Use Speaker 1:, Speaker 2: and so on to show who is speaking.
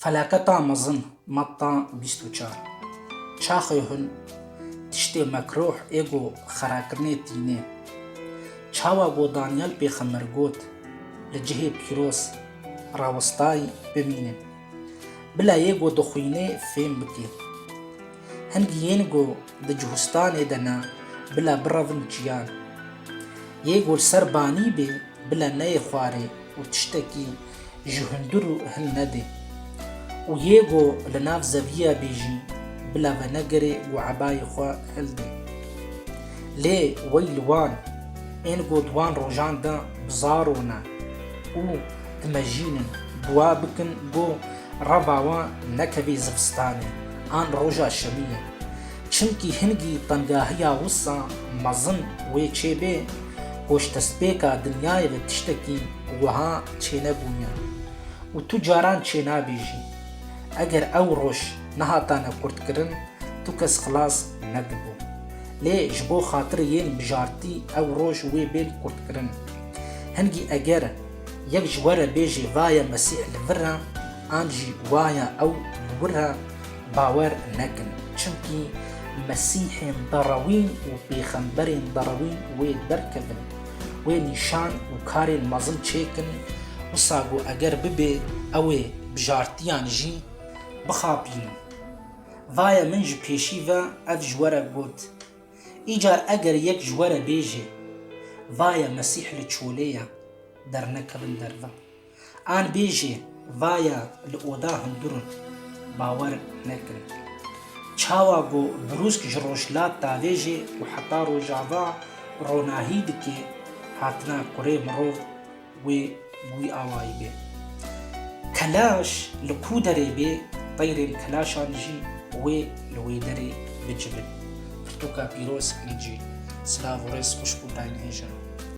Speaker 1: Felaketa mezin, Matta bîst û çar. Çaxê hûn, tiştê mekrûh ê ku xerakirinê tînê. Çawa ku Danyal pêxember got, Li cihê pîroz, rawestayî, bimîne. Bila yê ku dixwînê fêm bike. Hin giyên ku. Di cihûstanê de ne, bila birevin çiyan. Yê ku li ser banî bê, bila neyê xwarê û tiştekî ji hundir û hin nedê. Û yê ku li nav zeviya bê jî, bila venegirê û ebayê xwe hildê. Lê wey li wan, ên ku di wan rojan de bi zaro ne û dimejînin, dua bikin ku reva wan nekevê zivistanê an roja şemiyê. Çimkî hingî tengahiya wisa mezin wê çêbê ku ji destpêka dinyayê ve tiştekî wiha çênebûye û tu caran çênabêjî. Eger ew roj nehatane kurtkirin tu kes xilas nedibû. Lê ji bo xatirê yên mijartî ew roj wê bên kurtkirin. Hingî eger yek ji we re bêjê vaye Mesîh li vir e an jî waye ew li wir e, Bawer nekin, çimkî Mesîhên derewîn û pêxemberên derewîn wê derkevin, wê nîşan û karên mezin çêkin, wisa ku eger bibê ew ê bi jartiyan jî bixapînin. Vaye min ji pêşî ve ev ji we re got. Îcar eger yek ji we re bêje, Vaye Mesîh li çolê ye, dernekevin derve. An bêjê vaya li oda hundur in. Bawer nekin. Çawa ku brûsk ji rojhilat davêjê û heta rojava ronahî dike hatina kurê mirov wê wî awayî be. Kelaş li ku derê bê teyrên kelaşan jî wê li wê derê bicivin. Pirtûka pîroz kincî. Silav û rêz xwişk û tayinhêj in.